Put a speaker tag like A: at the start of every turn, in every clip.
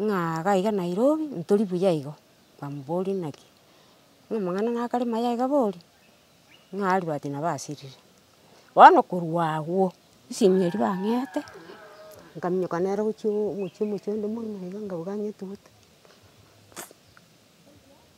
A: Ng'a gaiga Nairobi ntori buya igo, bamoboririe naki, ng'a amang'ana nakare maya iga bori, ng'a aribwate nabo asirire. Bono korwa agwo, esimi eria bang'ete, nkaminyoka nere gochia omochie omochie onde mwaino iga, ngauga ng'a etuguta.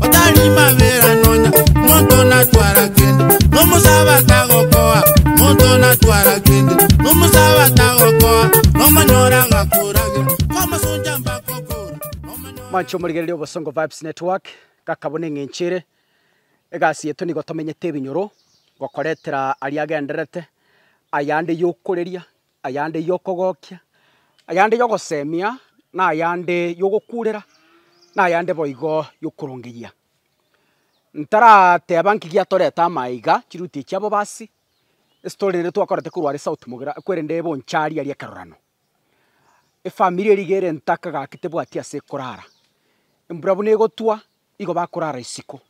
B: otari mabera nonya monto natwara kende nomusaba tagokoa monto natwara kende nomusaba tagokoa nomonyora gakoragira kwamasunja mbakokora nomonyora Mwancho morigereria Obosongo Vibes Network, gaka buna eng'encho ere, egasi yaito nigo tomenyete ebinyoro, gokoretera aria agendererete, ayande yokoreria, ayande y'okogokia, ayande y'ogosemia, na ayande y'ogokurera, na ayande boigo y'okorongeyia. Ntarateba nki giatorete ama aiga, chiruti echi abo basi, estory ere twakorete korwa are South Mogera, kwerende ebe oncharia aria ekerorerano. Efamiri eria iga ere ntaka gaki tebwati ase ekorara, embura buna egotwa, Igo bakorara isiko,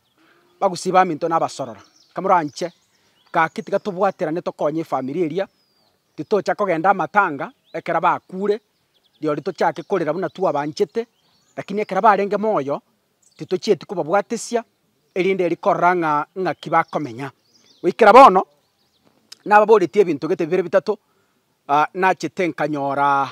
B: bagosiba aminto na abasorora. Kamoranche gaki tiga tobwaterane tokonye efamiri eria, titocha kogenda amatanga ekero bakure, rirorio tochake korera buna twabanchete, rakini ekero barenge moyo, titochieti kobabwatesia, erinde erio korora ng'a ng'aki bakomenya. Goikera bono, nababoretie ebinto gete bibere bitato, nachete nkanyoraa.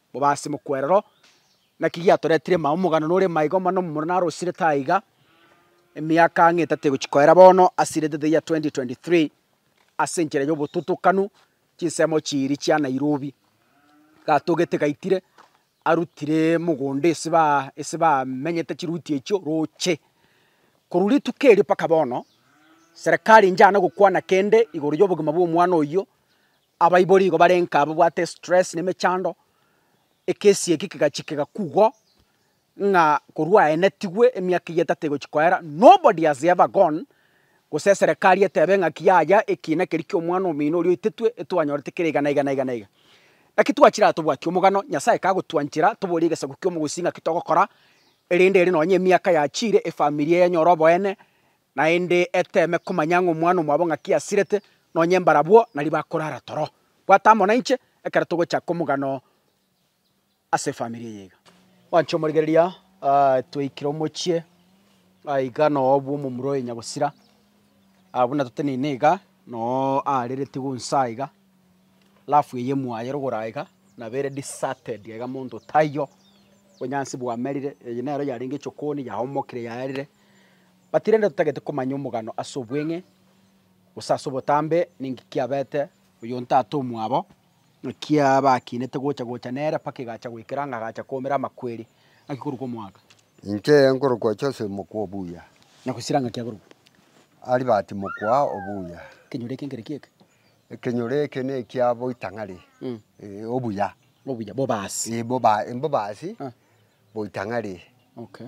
B: Bobe ase mokwerero, naki giatoretire mama omogano nore maiga omwana omomura narosirete aiga, emiaka ang'e etato egochia koera bono asirete the year 2023 ase enchera y'obotutukanu chinsemo chiiri chia Nairobi. Gatogete gaitire arutire mogondo ase ba ase bamenyete chiruti echio roche. Korwa rituko erio mpaka bono, serekari inchana gokwana kende igoro y'obogima bw'omwana oyio, Abaibori igo barenka babwate stress na emechando, ekesi eke kegachia kegakugwa ng'a korwa aye natigwe emiaka eyio etato egochia koera nobody has ever gone gose eserekari etebe ng'aki yaya ekiina keria ki'omwana omino oria oitetwe etwanyorete kere iga na iga na iga na iga. Naki twachira tobwati omogano, Nyasaye kagotwanchera toborie egesaku ki'omogosi ng'aki togokora, erinde ere nonye emiaka yachire efamiri eye enyore oboene, Naende eteeme komanya ng'a omwana omwabo ng'aki asirete, nonye mbarabwo nario bakorara toro. Bwata amo nainche ekero togochaka omogano ase efamiri eye iga. Mwanche omorigereria, twaikire omochie iga noo bw'omomura oye Nyagosira, buna toteneine iga noo aarereti gonsa aiga, alafu eye mwaye rogoro aiga nabere deserted aiga monto taiyo, obonyansi bwamerire, eye nero yarenge echokoni yaomokire yarire. But rende totagete komanya omogano ase obweng'e, gose ase obotambe, ninki kiabete oyonto ate omwabo, naki abakinete gocha gocha nere mpaka egacha goikera ng'a agacha koumera amakweri. Ng'aki korokwa omwaka? Inche nkorokwa
C: Joseph mokwa obuya. Na gosira ng'aki
B: akorokwa? Albert
C: mokwa obuya. Ekenyoro eke nkere ki'eke?
B: Ekenyoro eke
C: nekia boitang'ari, eh, obuya. Obuya,
B: bobaasi. Eh, boba- eh, mbobaasi, Ah.
C: boitang'ari. Okay.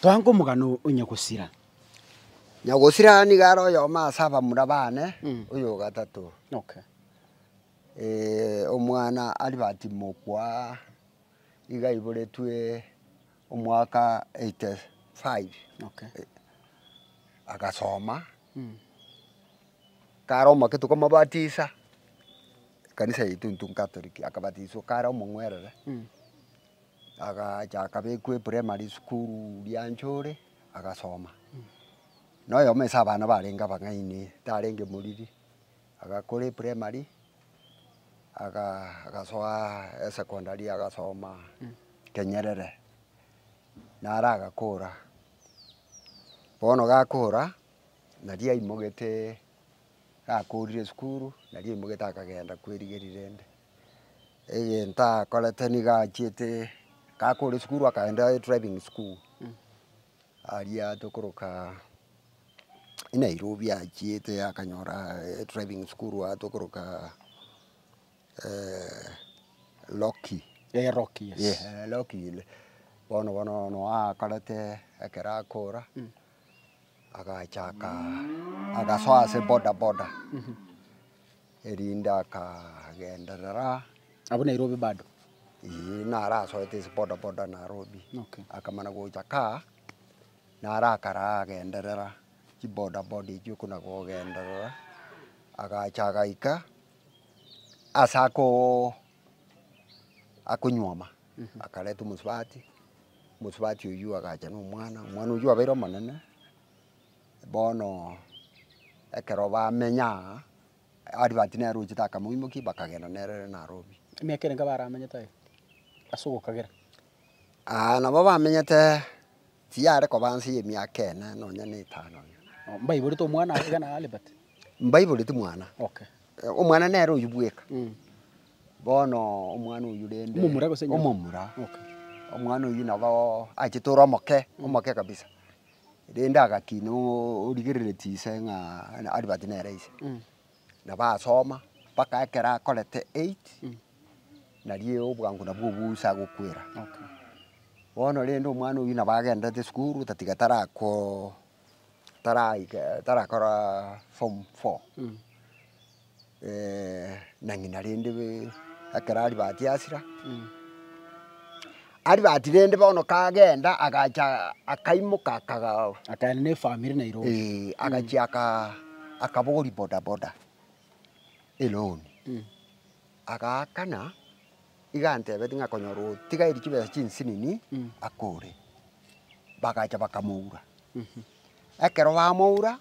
B: Toanke omogano o Nyagosira.
C: Nyagosira nigo are oyomo ase abamura bane, oyo o gatato. Omwana Albert Mokwa iga aiboretwe omwaka eighty five,
B: agasoma,
C: kare omoke tokamobatisa, ekanisa yaito intwe nkatoliki, akabatiswa kare omong'werere. Agachaka bekwa eprimary school ria nchore agasoma, na oyomo ase abana barenge abang'aini tarenge moriri, agakora eprimary agasoa esecondary agasoma kenyerere naro agakora, bono gakora naria aimogete gakorire esukuru naria aimogete akagenda kwerigeria rende. egento akorete nigo achiete gakore sukuru akaenda driving school aria tokoroka nairobi achiete akanyora driving school aa tokoroka
B: loki
C: bono bono ono akorete ekero akora agachaka agasoa ase bodaboda. Erinde akagenderera. Abwo Nairobi
B: bado? Ee,
C: narasoete ase bodaboda Nairobi. Okay. Akamana
B: gocha kaa,
C: narakara agenderera chibodaboda echio okona kogenderera, agacha agaika ase akoo akonywoma, akareta omosubati, omosubati oyio agacha na omwana, omwana oyio abeire omonene. Bono ekero bamenya aa, Aribati nere ochete akamoimokia bakagenda nere Nairobi. Emiaka ere nka baramanyete
B: aye ase ogokagera. Aa
C: nabo bamenyete tiyare koba nse ya emiaka ene nonya na etano iga. Oo mbaiborete omwana aye
B: iga na Aribati? Mbaiboreti
C: mwana. Okay. Omwana
B: nere
C: oyio bweka. Mm. Bono omwana oyio rende. Omomura gose enyomba? Omomura.
B: Okay. Omwana oyio
C: naboo achete ore omoke, omoke kabisa. rende agakina origerere chise ng'a Albert nere ise, nabo asoma mpaka ekero akorete eight, nario obwango nabwo obosa agokwera.
B: Bono
C: rende omwana oyio nabo agenderete esukuru otatiga tarako taraika tarakora form four. na ng'ina rende ekero aribati asira, aribati rende bono kagenda agacha akaimoka akagaa Akaenda na
B: efamiri Nairobi. Eh, agachia aka-
C: akabogoria bodaboda eloan agaakana iga antebetie ng'a konyora otigairi chibesa chinsinini akore, bagacha bakamoura ekero bamoura.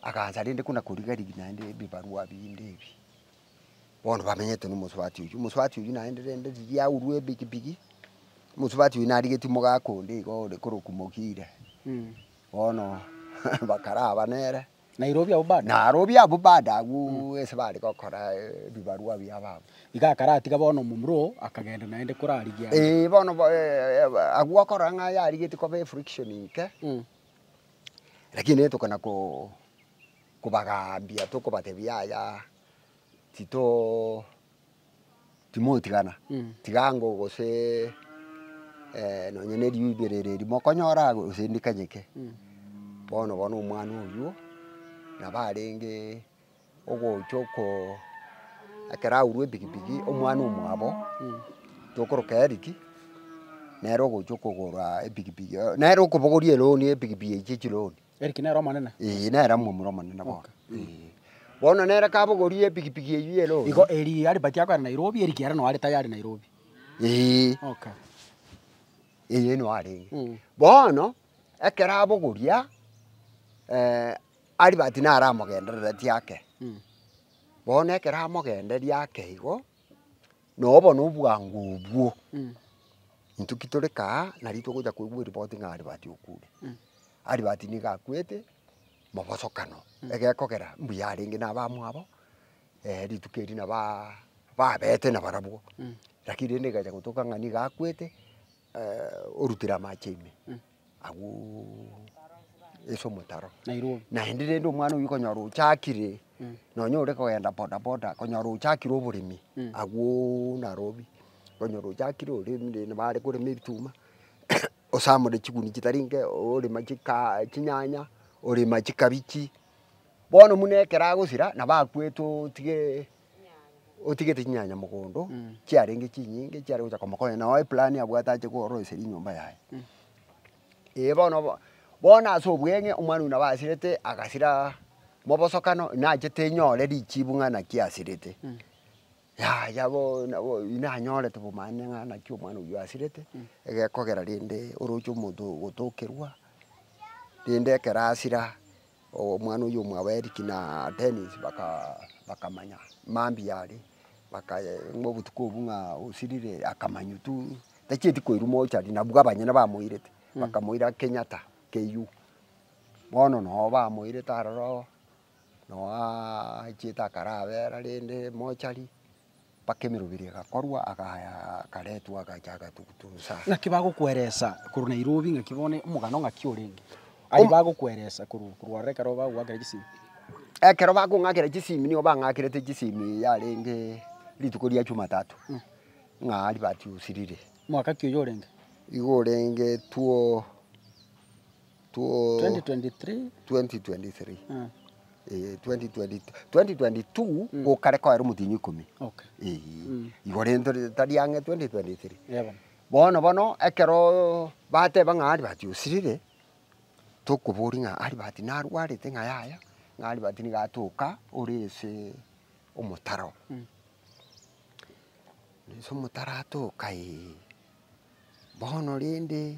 C: Agacha rende kona koriga rigia naende ebibarua binde ebi, bono bamenyete na omosubati oywo, omosubati oywo naende rende riria aurwa ebigi bigi, omosubati oywo narigetie omogaka onde iga ore korokwa Mogire, bono bakaraba nere, Nairobi abwo bado?
B: Nairobi abwo bado agwo ase bare gokora
C: ebibarua biabo abwo. Iga akaratiga bono
B: omomura oo akagenda naende korarigia. Eeh bono
C: agwo okorora ng'a yarigetie koba efriction inke, Rakini tokana koo kobagaambia tokobatebia yaya titoo timotigana tiga ango gosee nonye ne riubi ere riri mokonyora gose ndikanyeke bono bono omwana oywo nabo arenge. ogocha oko ekero aurwa epikipiki omwana omwabo tokoroka Eric nere ogocha okogora epikipiki eye nere okobogoria eloni epikipiki eye chichi loni Eric nere omonene.
B: ee nere omomura omonene
C: bono ee. Bono nere kabogoria epikipiki eywo ya eloni Igo eri Albert
B: akoe are Nairobi Eric ere nao are tayari Nairobi. ee Okay.
C: eye nao arenge Mm. bono ekero abogoria. Albert naramogenderereti ake, bono ekero amogenderia ake igo, noo bono obwango obwo, intwe ki tore kaa, nari togocha koigwa eripoti ng'a Albert okure. Albert nigo akwete, mobosokano, egekogera mbuya arenge na abamwabo, rituko eri nabo babete na barabwo, lakini rende egecha gotuka ng'a nigo akwete orutire amache ime. agwo ase omotaro, Nairobi. naende rende omwana oyio okonyora ochakire nonya ore kogenda bodaboda okonyora ochakire oboremi agwo Nairobi, okonyora ochakire oremire rende bare korema ebituma osamore chiguni chitari nke, orema chika chinyanya, orema chikabichi, bono buna ekero agosira nabo akwete otige. otigete chinyanya mogondo chiarenge chinyinge chiare gocha koma konya nao eplani abwate ache koroisia rinyomba yaye. Ee bono bo bono ase obweng'e omwana oyio nabo asirete agasiraa mobosokano nachete nyore richibu ng'a naki asirete yaya boo nabo oyio nanyorete obomaani ng'a naki omwana oyio asirete egekogera rende oroche omonto ogotokerwa rende ekero asira. Omwana oyio omwabo Eric na Dennis bakamanya mambia are ng'a obotuko obwo ng'a osirire akamanya tu tachieti koirwa mochari nabwo abanyene bamoirete bakamoira Kenyatta KU bono nabo bamoirete aroro noo achiete akara abera rende mochari. Mpaka emeroberi egakorwa, agaya agaretwa, agacha agatugutusa. Ng'aki bagokweresa
B: korwa Nairobi ng'aki bono omogano ng'aki orenge? Aria Om- bagokweresa korwa korwa ororo ekero bagogoakera chisimi. Ekero
C: bakong'akera chisimi nigo bang'akerete chisimi yarenge rituko ria Jumatatu, ng'a aria batiusirire. Mwaka ki oyo orenge?
B: Igo orenge
C: two. 2022 gokare koera omotienyi ikomi
B: igo rento
C: tari ang'e 2023 bono
B: bono
C: ekero bateba ng'a Albert osirire tokoboria ng'a Albert narwarete ng'a yaya ng'a Albert nigo atoka ore ase omotaro ore ase omotaro atoka ee bono rende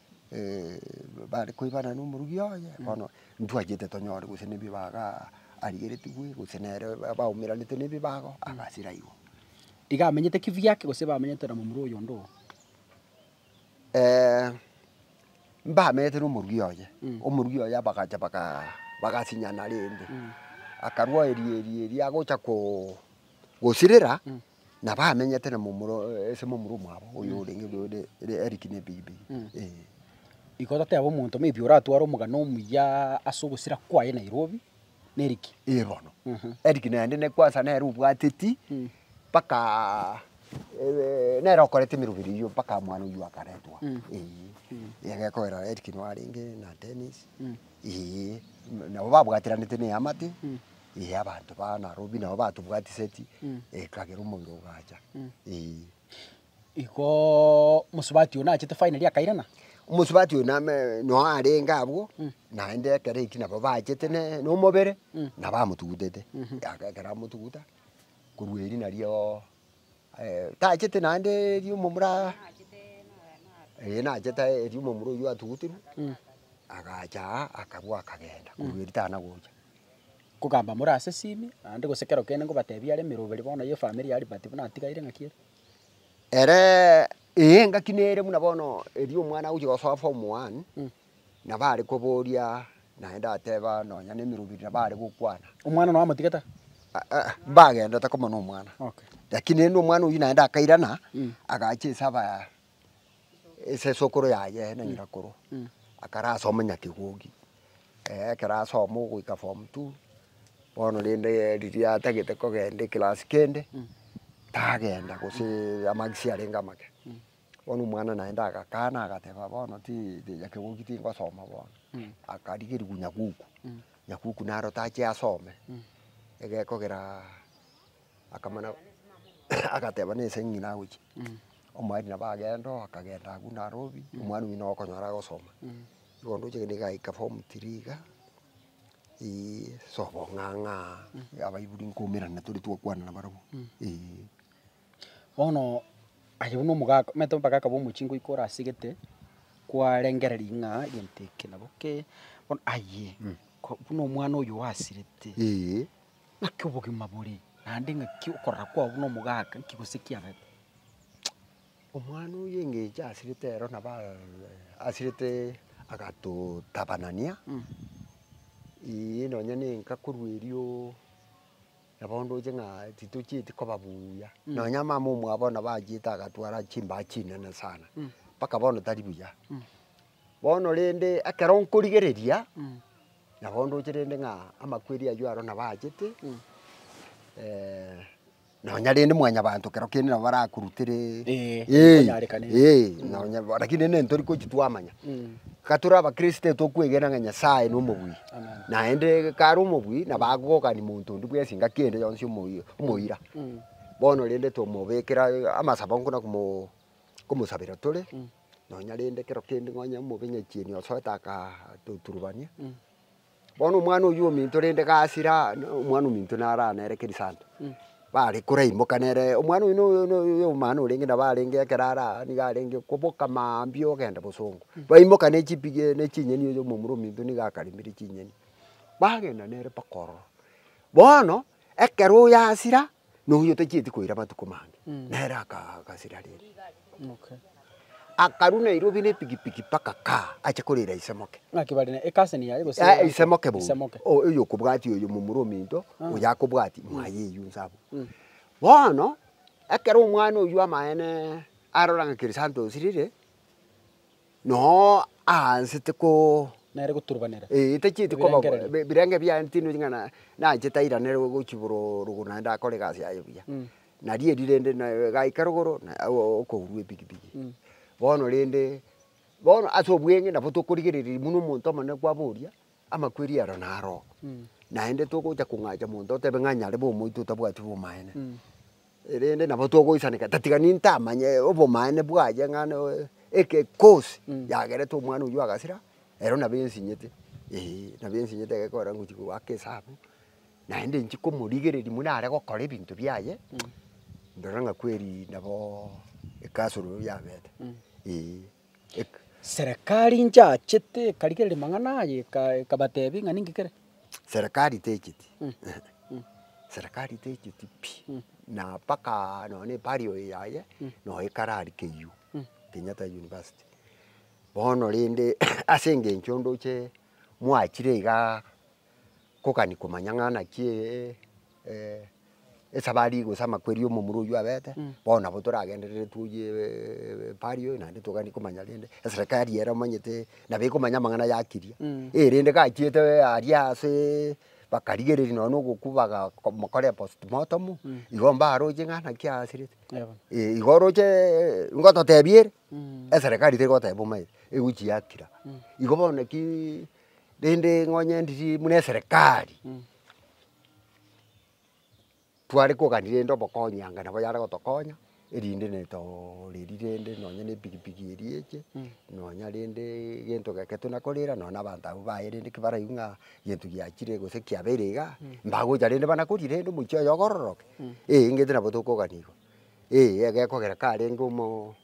C: bare koibanana na omorugi oye, bono ntwachete tonyore gose na ebibago aa arigeretigwe gose nere baumeranete na ebibago agasira igo. Iga amenyete
B: kibyake gose bamenyete na momura oyonde oo?
C: mbamenyete na omorugi oye, omorugi oye abagacha bagaa bagasinyana rende, akarwa erio erio erio agocha koo gosirera Nabamenyete na momura ase momura omwabo oyo orenge Eric na ebibe eh.
B: Igo totebe omonto maybe oratware omogano omuya ase ogosira kwaye Nairobi na Eric. Eh bono.
C: Eric naende ne kwansa nere obwateti mpaka nere okorete emerobera eyio mpaka mwana oyio akaretwa eh. Egekogera Eric nwarenge na Dennis eh. Nabo babwatiranete na eamate. ee, abanto ba Narobi nabo batobwatiseti, ee, kagera omoiro ogacha, ee. Igoo
B: mosubati oyio nachete finally akairana? Omosubati oyio name
C: noe arenge abwo, naende ekero eki nabo bachete ne nomobere, nabo amotugutete, aka ekero amotuguta, korwa erio narioo tachete naende erio momura ee nachete erio momura oyio atuguterwe, agacha aa akarwa akagenda, korwa erio tana gocha. Nkogamba
B: more ase esimi, naende gose kero kende ngobatebie are emeroberi bono ye efamiri ya Liberty buna natigaire ng'aki ere. Ere,
C: Ee engaki nere buna bono erio omwana agochia gosoa form one, nabo are koboria naende ateba nonya na emeroberi nabo are gokwana. Omwana nonya amotigete
B: are? Aa
C: mbagendete koma na omwana. Okay. Lakini rende
B: omwana oyio
C: naende akairana, agacha ase aba esesokoro yaye na nyirakoro akarasoma nyaka egogi ekero asoma ogoika form two bono rende riria atagete kogenda eclass kende tagenda gose amarks arenge amake bono omwana naende agakana agateba bono ti nyaka egogi tingosoma bono akarigerigwa nyaguku, nyaguku naro tache asome egekogera. akamana agateba nese ng'ina agochia, omwari nabo agenda oo akagenda agwo Nairobi, omwana oywo nabo okonyora agosoma. Igo ndoche gende igaika form three iga, eeh sobo ng'ang'a abaibori nkomerana tore twakwana na barabwo eeh.
B: Bono aye buna omogaka omanyete abagaka ba omochie ngoika orasegete, kwarengereria ng'a egento eke nabo kee, bono aye ko- buna omwana oyo oasirete, Naki obogima bore? Naende ng'aki okorora kwao buna omogaka? Nki gose kiareta?
C: Omwana oye engencho asirete ero nabo asirete agatotabanania, eeh nonya ne enka korwa erio, na bono ndoche ng'a titochieti koba buya. Nonya mama omwabo nabo achiete agatwara chimbaa chinene sana, mpaka bono tari buya. Bono rende ekero nkorigereria, nabo ndoche rende ng'a amakweri ayio aro nabo aachete, nonya rende mwanyabanto kero kende nabo barakurutere, Eh, eh, ekonyarekana eria. eh, nonya bo- rakini rende ntori gochi twamanya. Ka tore abakristo tokwegena ng'a Nyasae nomobui, Amen. naende kare omobui nabo agokani monto onde bwensi engaki ende yonsi omoyio omoira. Bono rende tomobekera amasabo nkona komo komosabera tore, nonya rende ekero kende nonya omobenyachieni osoete akatoturubania, bono omwana oywo ominto rende gasire aa omwana ominto naro aa nere keri sande, bare koraimoka nere omwana oino oyo omino orenge nabo arenge ekero are aa nigo arenge koboka mambia ogenda bosongo, baimoka ne chipigi ne chinyeni oyo omomura ominto nigo akaremire chinyeni, bagenda nere mpaka ororo. Bono ekero oyasira. noyio otachieti koira amatuko mange, nere akagasera rende. Akarwa Nairobi nepikipiki mpaka kaa, ache korira ise moke. Ng'aki bare ne ekasi eye
B: yaye gose? Ee, ise moke bono. Ise moke.
C: O- Oyo okobwatia oyo momura ominto, oyo akobwatia, mwaye eywo inse abwo. Bono, ekero omwana oywo amaene arora ng'a Chrysantos rire. Noo aansete koo. Nere goturubanera.
B: Ee, tachieti koba bo, Ebirengererio.
C: bi- birenge biane tinweti ng'a na- naanchete airanere gochia boro rogo naende akore egasi yaye buya. Na rieri rende na gaika rogoro na o- o- okourwa epikipiki. Bono rende, bono ase obweng'e nabo tokorigereria buna omonto omonene kwaboria. amakweri aro naro, naende togocha kong'acha monto otebe ng'a nyarebe omoito otabwati obomaene. Erende nabo togoisaneka tatiga nintamanye obomaene bwaye ng'a noe eke cause yagerete omwana oywo agasira, ero nabo ensinyete eh, nabo ensinyete egekorera ngochia goaka esabu, naende nchie komorigereria buna are gokora ebinto biaye, ndore ng'a kweri naboo ekasoro yabete eh.
B: Serikari nchachete ekarigereria mang'ana aya ekabatebia ng'a ninki kere? Serikari
C: techeti, serikari techeti pi, na mpakaaa nonya na ebari oyo yaye nonya ekarari KU, Kenyatta University. Bono rende ase engencho ndoche mwachire igaa. kogani komanya ng'a naki ee eh esabari gose amakweri omomura oywo abete, bono nabo toragenderere twoyie eeh pari oyo naende togani komanya rende eserekari ere omanyete nabo ekomanya amang'ana yakiria. Eh rende gachiete aria aseeee bakarigereria nonye na ogokwa bagakomokora post mortem, igo mbaroche ng'a naki aasirete. Eh igo orocheeee ngototebia ere eserekari terigoteba omaete egochi yakira. Igo bono nakiiii rende ngonye ndiri buna eserekari, tware kogania rende obokonyi anga nabo yare gotokonya erinde ne toreri rende nonye ne epikipiki eria eche, nonya rende egento geke tuna korera nonya na abanto abwo baye rende ki baraigwe ng'a egento giachire gose kiabeire igaa, mbagocha rende bana kori rende omochi oye ogororoke, eeh, engento nabo tokogania igo, eeh, egekogera karenge omo.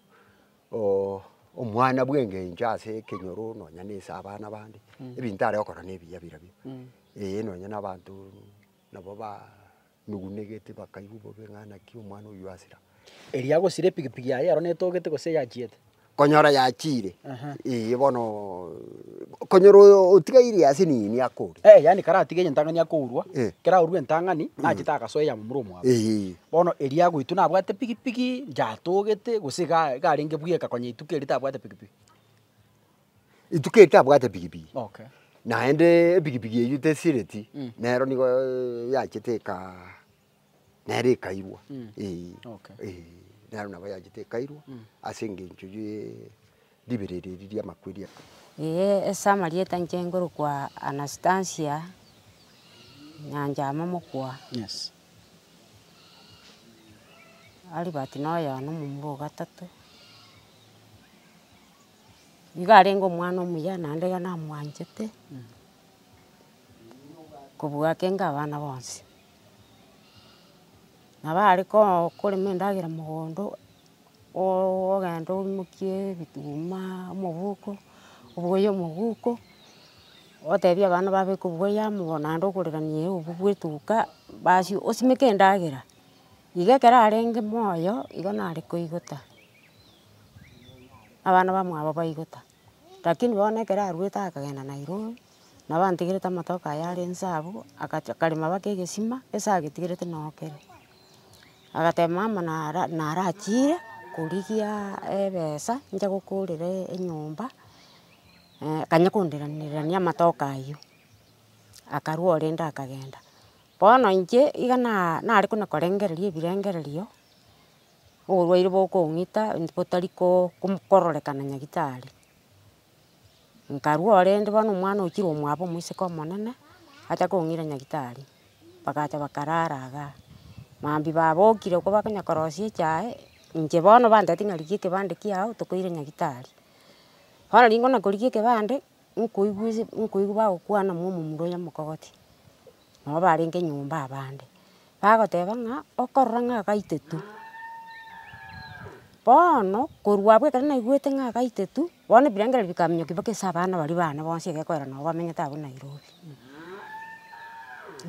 C: omwana bw'engencho ase ekenyoro nonya na ase abana bande, ebinto are gokora na ebiya birabwo, ee nonya na abanto nabo banugunegete bakaigwa bobe ng'a naki omwana oyio asira. Erio agosira
B: epigipigi yaye ero netogete gose eyachiete? Konyora yachiire,
C: eye bono konyora oyo otigaire ase nini akore. Yaani karatige entang'ani
B: akourwa, kera aurwe entang'ani, nachete agasoa eyamo mura omwabo. Bono erio agoitwa nabwate pigipigi, inche atogete, gose iga iga arenge buya eka konya ituko erio tabwate pigipigi?
C: Ituko erio tabwate pigipigi, Okay. naende epigipigi eywo tesireti, nero nigo yachete ekaa nere ekairwa eh, Okay. eh,
B: nero nabo
C: yachete ekairwa ase engencho ye. ribererire eri ri'amakweri aya. Ee, ase
A: amarieta inche ngorokwa Anastasia Nyanchama mokwa. Albert noyo na omomura ogatato. Nigo arenge omwana omuya naende iga namwanchete kobua ake inga abana bonsi. Nabo are korema endagera mogondo. ogenda oimokie ebituma, omoguko, oboye omoguko, otebie abana babeke oboyo amo bono naende okorirania eubi bwa etuka, basi osimeke endagera, iga ekero arenge moyo igo nare koigota, abana bamwabo baigota. Lakini bono ekero arwete akagenda Nairobi, nabo antegerete amatoke aye are inse abwo, agacha akarema baka egesima ase agetigerete noo kere. Agateba mama nara narachire korigia ebesa inche gokorera enyomba, akanya konderanania amatoke aywo. Akarwa orende akagenda. Bono inche iga na nare kona korengereria ebirengererio. Oborwaire bokong'ita botari kororekana nyagitari, nkarua orende bono omwana okire omwabo omoiseke omonene acha kong'ira nyagitari, bagacha bakarara igaa. Mambia babokire ko bakonya korosia echae, inche bono bantebeti ng'a rigia ekebande kiago tokoira nyagitari. Bono rikona korigia ekebande, nkoigwa nkoigwa bagokwana momomura oyo omokogoti. nabo barenge nyomba abande, bagoteba ng'a okorora ng'a agaite tu. Bono korwa agwo ekero naigwete ng'a agaite tu, bono ebirengererio bikaminyoka mpaka ase abana baria bane bonsi egekorera nabo bamenyete abwo Nairobi.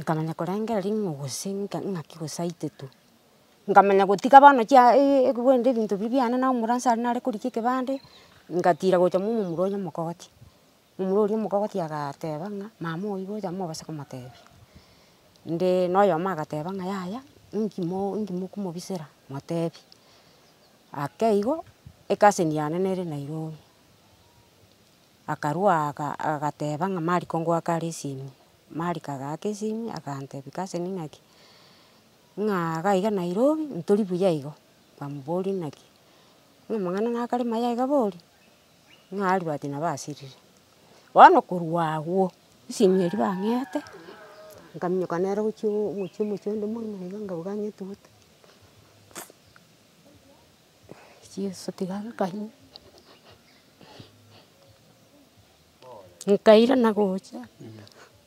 A: Nkamanya korengereria ng'a gose ng'aki gose aite tu. Nkamanya gotiga bono chia ebiwenda ebinto biria biane na omoransa aria nare korigia ekebande, ngatira gocha momomura onya omokoti. Momura oria omogogotia agateba ng'a mama oyi gocha mobase komotebia, nde noyomo agateba ng'a yaya inki mo inki mokomobisera motebie. Ake igo ekaseni yane nere Nairobi, akarua aga agateba ng'a mariko ngoaka are esimi, mariko agaaka esimi agantebia kaseni naki, ng'a iga iga Nairobi ntori buya igo, nkamoboria naki, ng'a amang'ana nakare maya iga boria. Ng'a arwati nabo asirire. Bono korwa agwo, esimia eria bang'ete, nkaminyoka nere gochia omochie omochie onde moino iga nkauga nyetuguta, Jesu tiga nkaime, nkairana gocha.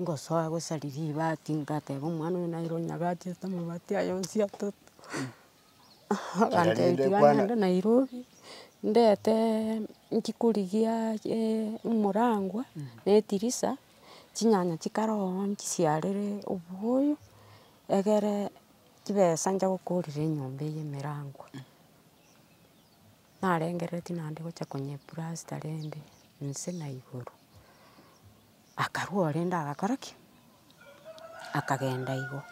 A: Ngosoa gosari ribati ngateba omwana oyo naira onyagachete amabati aye onsi atato, agantebia tiga ngende Nairobi, ndete nchi korigia omorangwa na etirisa, chinyanya chikare oo chisiarere obuoyo, egere chibesa ncha gokorera enyomba eye emerangwa. narengerere tinandi gocha konyepurasta rende inse na igoro. Akarua orende agakora ki? Akagenda igo.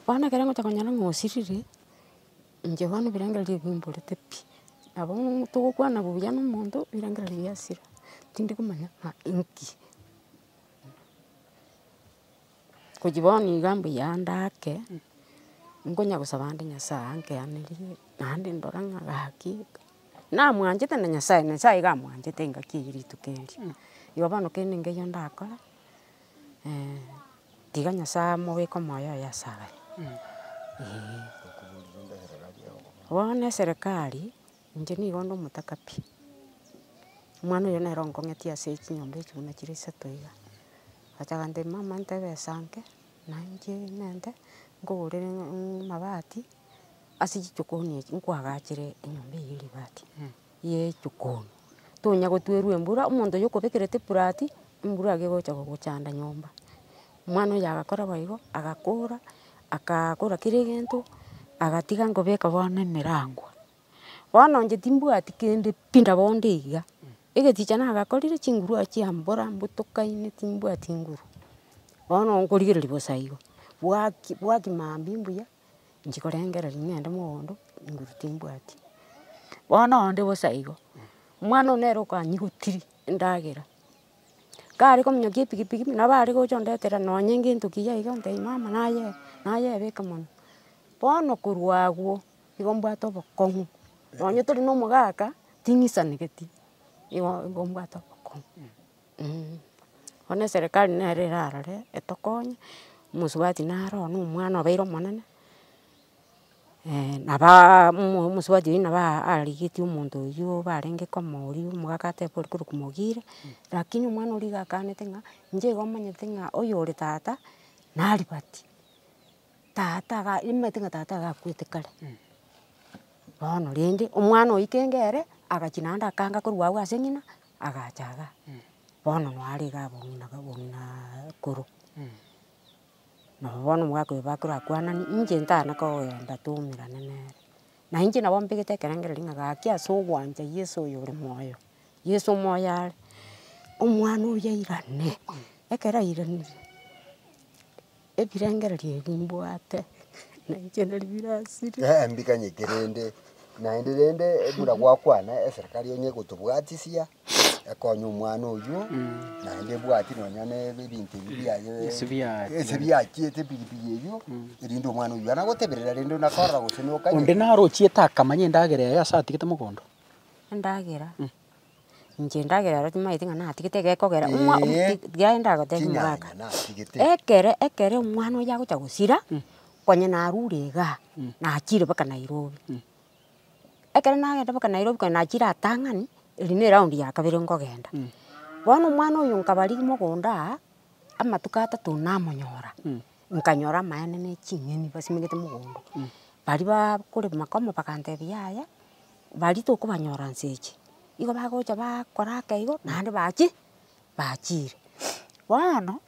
A: Bono ekero ngocha konyora ng'a osirire, inche bono ebirengererio ebi mborete pi, nabo togokwana buya na omonto ebirengererio biasira, tindi komanya ng'a inki. Gochia bono iga mbuya ndake, nkonya gosaba ande Nyasae ankeanerie, naende ndore ng'a gaki, namwanchete na Nyasae, Nyasae iga amwanchete engaki eye rituko erio. Igo bono kende nkeiyo ndakore, tiga Nyasae amobeke omoyo oye ase agachenu, eeh. Bono eserekari. Inche nigo onde omotakabi. Omwana oyo nere onkong'etie ase chinyomba echio buna chire isato iga. Agacha agantebia mama nte ebesa nke, nainche nente nkogorere amabati ase chichokoni echi, nkwagachere enyomba eye ye ribati, ye echokoni. Tonya gotwerwa embura, omonto oyo okobekerete eburati, embura iga egocha gogochanda nyomba. Omwana oyio agakora boigo, agakora, agakora kera egento, agatiga nkobeka bono emerangwa. Bono inche timbwati kende pi nabo onde iga, egechicha nagakorire chinguru aya chia mbora mbotokaine timbwati nguru. Bono nkorigereria bosa igo, bwaki bwaki maambia mbuya, inche korengereria ng'ende mogondo, nguru timbwati. Bono onde bosa igo, omwana one nere okanyigotiria endagera. Kare kominyokia epikipiki pi, nabo are gocha ondetera nonye gento kiya iga, ntebi mama naye nayebeka mono, bono korwa agwo, nigo mbwate obokong'u, nonye tori na omogaka, ting'isanegeti, igo igo mbwate obokong'u eeh. Bono eserekari nere erarore etokonye, omosubati naro one omwana obeire omonene. nabaa omosie wa Joina naba arigetie omonto oyio barenge komoria omogaka ateba ore korwa komogire, rakini omwana oria iga akanete ng'a inche igo omanyete ng'a oyore tata naribati, tata iga nimanyete ng'a tata iga akwete kare. Bono rende omwana oyio kenge ere agachia naende akanga korwa agwo ase ng'ina agacha igaa, bono naro iga abong'ina bong'ina korwa. Nabo bono omogaka oyo bakire akwanani, inche ntana kogenda twaumerane nere. Na inche nabo mbegete ekerengererio ng'a gaki ase ogwancha Yeso oyo ore moyo, Yeso moyo are, omwana oria airane. Ekero airanire, ebirengererio ebi mbwate, na inche nari birasire. Eeh mbikanyeke rende,
C: naende rende buna gwakwana eserekari onye egotobwatisia, ekonye omwana oyio, naende ebwati nonya na ebe- ebinto ebi biaye Ase biachia. ase biachiete epigipigi eyio, erinde omwana oyio yona agoteberera rende buna akorora gose na okanye. Onde narochiete
B: akamanya endagera yaye ase atigete mogondo. Endagera,
A: inche endagera ero timanyeti ng'a natigete egekogera omwa omo Eeh. ti- tiga aye ndagotebi Tinyanya mogaka. natigete. Ekere ekere omwana oyo agocha gosira, konya narure igaa, nachire baka Nairobi. ekero nagenda mpaka Nairobi kare nachire atang'ani, eri ne round ya kabere nkogenda. Bono omwana oyo nkabarigia mogondo aa, amatuko atato namonyora, nkanyora amaene ne ching'eni basimegete mogondo. Baria bakore makomo bagantebia yaya, baria tokobanyora nse eche. Igo bagocha bakora aka igo, naende bachie, bachiire. Bono.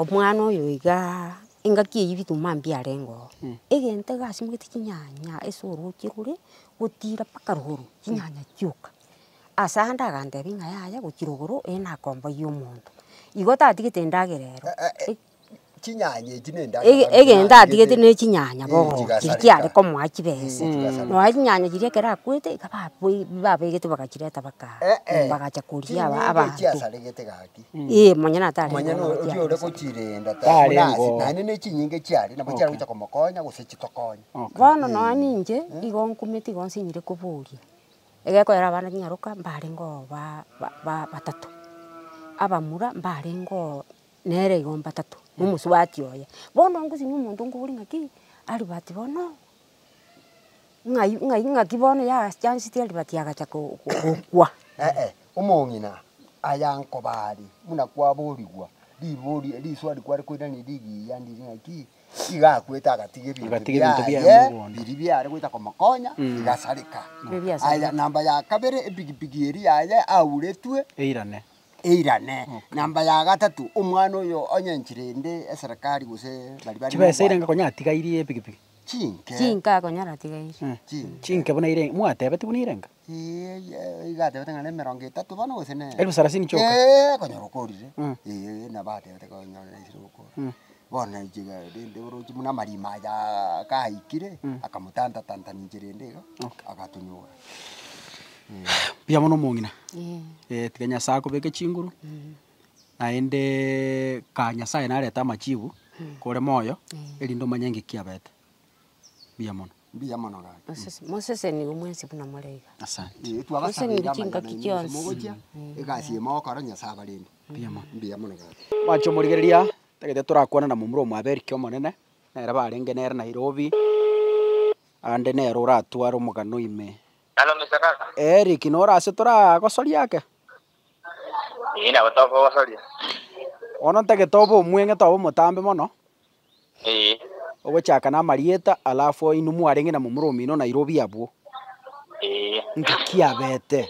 A: Omwana oyo iga engaki eyio bituma mambia arenge oo. Egento igasimugete chinyanya ase oroche rore gotira mpaka rogoro chinyanya chioka. Ase ayio ndagantebia ng'a yaya gochia rogoro ere nakomboiyie omonto. Igo tatigete endagera ero. Chinyanya
C: echi ne endagera Ege- egento atigete ne
A: chinyanya bono, chiria chigasareka. chiare komoa chibesa. chigasareka. Nonya chinyanya chiria ekero akwete, iga baboi- babegete bagachireta bakaa, Eh-eh. bagacha koria aba- Chinyinga abanto. echiasaregete gaki.
C: Ee, manya natarenge
A: Manya bono no- naki oria ore akosa.
C: gochirenda ta Tari buna ase, ngo. naende ne echinyinga echiare, nabo chiare gocha komokonya gose chitokonye. Okay. Bono nonya
A: ninche, igo nkumete igo nsinyire koboria, egekoera abana nyaroka, mbarengeo ba- ba- ba- batato, abamura mbarengeo. nere igo mbatatu na omosubati oye. Bono ngosinyia omonto nkobori ng'aki Albert bono ng'ai ng'ai ng'aki bono yachanseti Albert agacha ko gokwa. Eeh
C: omong'ina aya nkoba are buna kwaborigwa ribori riswari kware koiraneria rigiya ndiri ng'aki, iga akwete agatiga ebinto Agatiga ebinto biaye biaye mogondo. biria biare gocha komokonya bigasareka. Biria biasareka. Aya namba ya kabere epikipiki eria yaye auretwe. Eirane. eirane. Namba ya gatato, omwana oyo onye nchirende eserekari gose bari bari Chibesa ire enga n'obwango. konya atigairie
B: epikipiki. Chinke. Chinka
A: konya ratigaire. Chinke. Chinke buna ire
B: enga. Mwatebeti buna ire enga. Ee, ye- iga
C: atebete ng'a nemerongo etato bono gose ne. Elfu sarasini chioka. Ee,
B: konya rokorire.
C: Mm. Ee, nabo atebete konya nesire gokora. bono enchera rende oroche buna amarima ayaaa gaikire, akamotanta tanta nenchera ende iga, agatonyora.
B: Mbuya mono omong'ina, tiga Nyasaye akobeke chinguru, naendeeee kaa Nyasaye narete amachibu, kore moyo, erinde omanye ng'iki kiabete, mbuya mono. Mbuya mono gaki. Mosese moseseni igo mwensi
A: buna more iga. Asante. Ee twabasabeire
B: Moseseni amang'ana chingaki
A: aino ase chionsi. mogochia, egasi
C: eye mogokora Nyasaye abarende. Mbuya mono. Mbuya mono gaki. Mwanche omorigereria,
B: Tagete torakwane na momura omwaberiki omonene, nere barenge nere Nairobi, aande nere oratware omogano ime. Eric, nore ase toragosoria ake?
D: Ee, nabo tokogosoria. Bono
B: ntagete obe omweng'ete obe omotambe mono, Ee, ogochaka namarieta, alafu inwe mwarenge na momura omino Nairobi abwo. ee. Nki kiabete?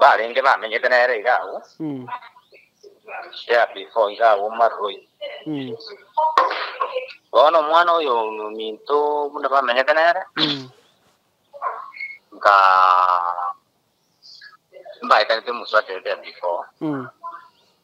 D: Barenge bamenyete nere iga agwo, yeah, before iga agwo mu maruroi. Bono omwana oyo ominto buna bamenyete nere, nka mbaetanete omosuacherete before.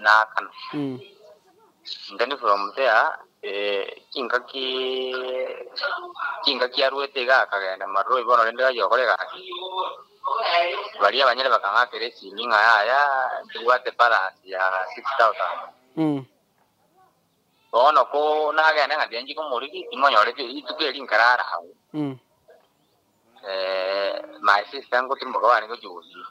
D: naakana. Intended from there chingaki chingaki aruete iga akagenda maruroi bono rende gachia gokora egasi baria abanyene bakang'akera esimi ng'a yaya tobwate balance ya six thousand bono ko nagende ng'a tiga nchike omoriri timonyore pi- rituko eri nkarara agwo my sister ngotirimboka barenge gochia gosibwa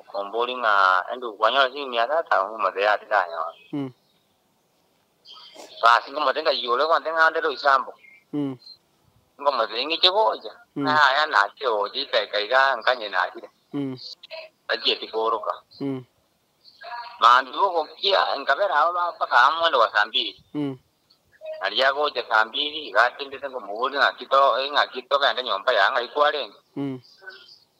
D: Okomboria ng'a, Andrew, kwanyora ase emiaka etano ng'a omote oyo tindanyore? Basi nkomotebi ng'a, Yee, ore gonte ng'a andere oise amo. Nkomotebi ng'iche gocha, ng'a yaya nake ogocha ikaika iga nkanye nakire, tachieti kooroka. Mambia ogokia nkabera abwo mpaka amo moende bwa saa mbiri. Nario agocha saa mbiri iga atindete nkomoboria ng'aki to ng'aki togende nyomba yao ng'ai kwarenge.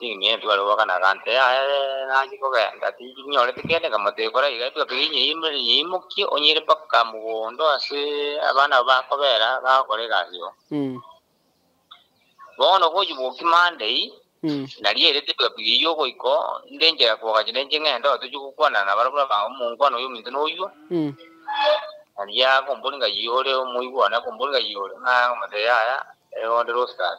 D: Ninyie etuga ri'oboka na egante yaye nanchie kogenda, tinyorete kende nkagamba tekora iga, etuga keria inyeimorere inyeimokie onyire mpaka mogondo ase abana abwo bakobera bagokora egasi oo. Bono gochia bokia Monday, nario ere etuga piga eyio ogoiko, nde enchera koga chende inche ng'ende oo tochie gokwanana nabare buna aba omonkwana oyio ominto noyuo, nario akombori ng'ai ore omoigwa one akombori ng'ai ore, nagamba yaya, ere onde Rostus.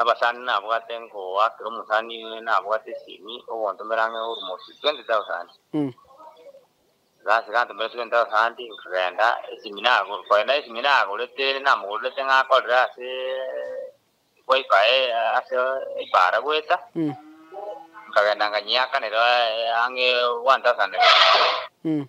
D: Abasani nabwate ngoa, kera omosani nabwate esimi, ogontomera ang'e ormosi 20,000. Gasi gantomera 20,000 nkagenda, esimi nagor, korende esimi nagorete namogorerete ng'a akorere ase wifi ase ebara goeta, nkagenda nkanyeakanera ang'e 1,000.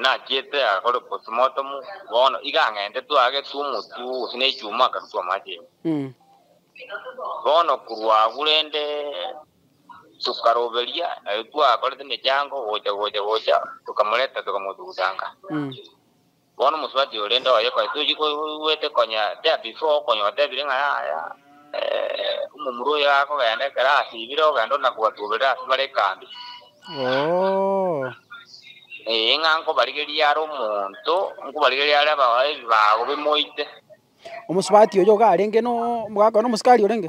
D: Nachiete akore postmortem, bono iga ang'entetwe agetwe omotwe gose ne echuma akarutwa amache ime. Bono korwa agwo rende tokaroberia naye twakorete emechango gocha gocha gocha tokamoreta tokamotuguta nka. Bono omosubati ore nde oye konya tochi koigwete konya tea before konya otebire ng'a yaya omomura oyo akogenda ekero asibire ogenda ore nakobatuberera ase bare ekambi. Ee ng'a nkobarigerie are omonto nkobarigerie are ebibago bimoite. Omosubati
B: oyo iga arenge no, gakoo nomosikari orenge?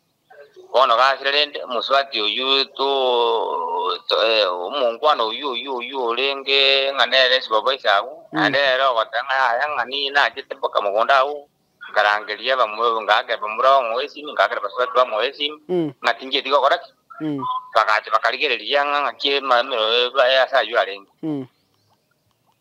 D: Bono gasire rende omosubati oyio to, ee, omongwana oyio, oyio, oyio orenge ng'a nere esibaba ase agwo, naende ere ogoteba ng'a yaya ng'a niye nachete mpaka mogondo agwo, nkarangeria bamwe, ngaakera bamura bamwoe esimi, ngaakera basubati bamwoe esimi, ng'a tinchieti gokora ki? Bagacha bakarigereria ng'a ng'aki emerero ebe ase ayio arenge.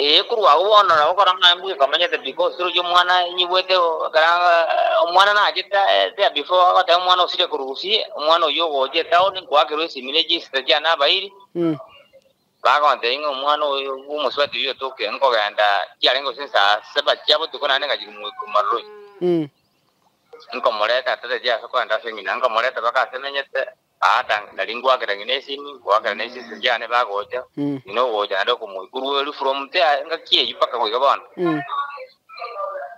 B: Ee,
D: korwa agwo bono nabo kora ng'a embwa ekamanyete because rirorio omwana enyigwete ekero omwana nachete eria before agoteba omwana osire korusi omwana oyio ogocha etown nkoakerwa esimi ne chinsa chia nabairi Mm. bagontebia ng'a omwana oyo bwa omosubati oyio otoke nkogenda chiarenge gose saa saba chia botuko naende ngachia komoika omaroroi Mm. nkomoreta tata chia ase kogenda ase emina nkomoreta mpaka ase emenyete Tata, nari ngoakera ng'ina esini, ngoakera ne chisese chiane bagocha, ng'ina ogocha naende okomoikurueri from there engaki eyio mpaka goika bono.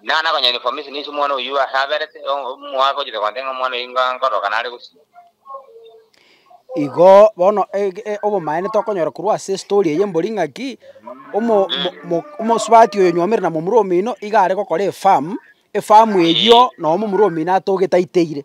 D: Ning'a nakonya information ase omwana oyio ase aberete, omwaka ochete konte ng'a omwana oyio nga nkoroka nare gosio. Igo
B: bono ege e- obomaene tokonyora korwa ase estory eye mbori ng'aki, omo- mo- mo- omosubati oyo nywomire na momura omino iga are gokora efamu, efamu eyio noo momura omino atogete aiteire.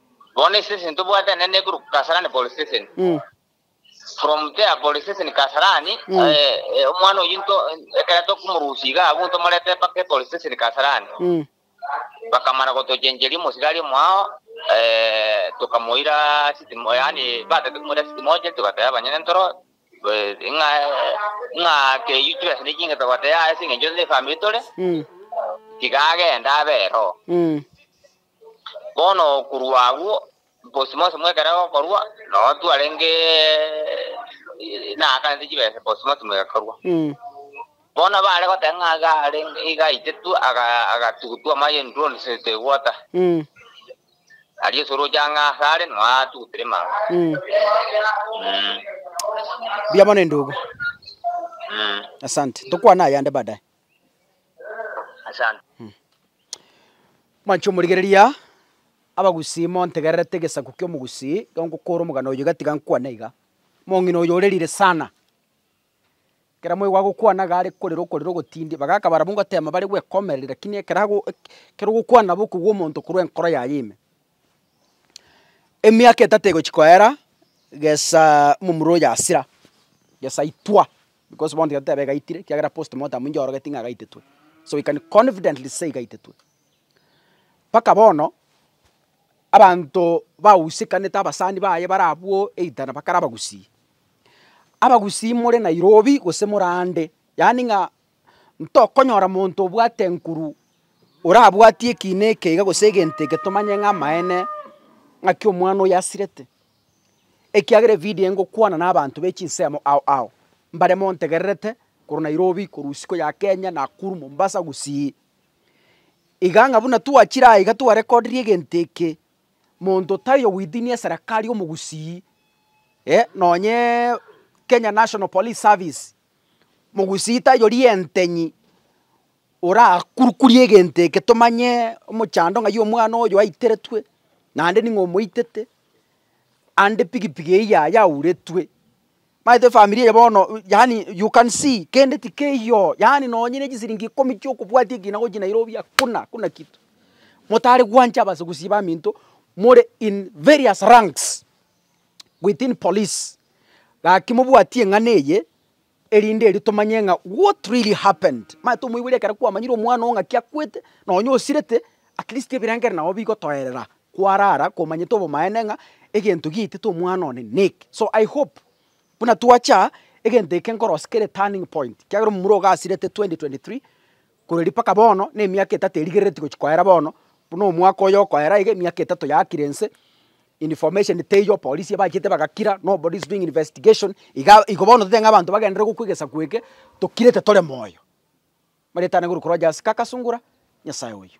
D: Bono ase ase ntobwatane nekorokwa Kasarani Police Station. Mm. From there Police Station Kasarani, Mm. eh, omwana oyio nto ekero tokomorusia iga abwo ntomorete mpaka Police Station Kasarani. Mm. Bakamana gotochencheria omosigari omwao, eh, tokamoira city mo- yaani batete komoira city moja, togateba abanyene ntoro, eh, ng'a ng'a keyio chibesa nigo ching'ete goteba ase eng'encho ne family tore, Mm. tiga agende abe ero. Mm. Bono korwa agwo bonsi bonsi mwekere gokorwa, na otu arenge naakanete chibesa bonsi bonsi mwegakorwa. Bono baare goteba ng'a iga arenge iga aitetwe aga agatugutwa amache enduroni se segwota. Aria Yesu oroche ang'e asare nao atugutire mache. Mm.
B: Mbuya mono endugu. Mm. Asante. Tokwane ayande baadaye. Mwanche omorigereria, abagusii montegererete egesaku ki'omogusii, ekero ngokora omogano oyio iga tiga nkwane iga. Omong'ina oyo ore rire sana, ekero mwaigwa agokwana iga are korera okorera ogotindi, bagaka barabwo ngoteema bare gwekomereri lakini ekero ago ekero ogokwana nabo okogwa omonto korwa enkoro yaye ime. Emiaka etato egochia koera, gesaa omomura oyo yasira, gesa itwa, bikos bono tigetoteba egaitire, ekiagera postmortem ninche orogeti ng'a egaitetwe, so we can confidently say egaitetwe. Mpaka bono, abanto bagusekanete abasani baye bare abwo either nabo bakare abagusii, abagusii more nairobi gose more ande, yaani ng'a Ntokonyora monto obwate enkuru orabwatie ekiina eke iga gose egento eke tomanye ng'a amaene ng'aki omwana oyo asirete, ekiagera evidio ngokwana na abanto be chinsemo ao ao, mbare montegererete korwa Nairobi, korwa isiko ya Kenya, Nakuru, Mombasa, Gusii. Iga ng'a buna twachire aiga twarekodire egento eke, monto tari o within eserekari omogusii, eh, nonyeeee Kenya National Police Service. Mogusita yori entenyi orakurukurie egento eke tomanye omochando ng'ai omwana oyo aiteretwe naende ning'o omoitete, ande pigipigi eywo yaya yauretwe. Omanyete efamiri eye bono yaani you can see kende tikeiyo yaani nonye ne chisiringi ikomi chia okobwatia ekina gochia Nairobi hakuna hakuna kitu. Motare gwancha abase gusii baminto more in various ranks. within police. Gaki mobwatie eng'ana eye, erinde erio tomanye ng'a what really happened. Manye tomoigwere ekero kwamanyire omwana oo ng'aki akwete, nonye osirete, at least ebirengereri nabo bigotoerera kwarara komanyete obomaene ng'a egento giaetete omwana one neki. So I hope buna twacha aa, egento eke nkorosia kere turning point, ekiagera omomura ogasirete 2023, Korende mpaka bono nemiaka etato erigerereti gochia koera bono, buna omwaka oyo okoera iga emiaka etato yakire ense, information teiyo, apolisi ebachete bagakira, nobody is doing investigation, iga igo bono totebe ng'a abanto bagenderere gokwa egesaku eke, tokirete tore moyo. Amareta ane korwa Rogers Kaka Sungura, Nyasaye oyio.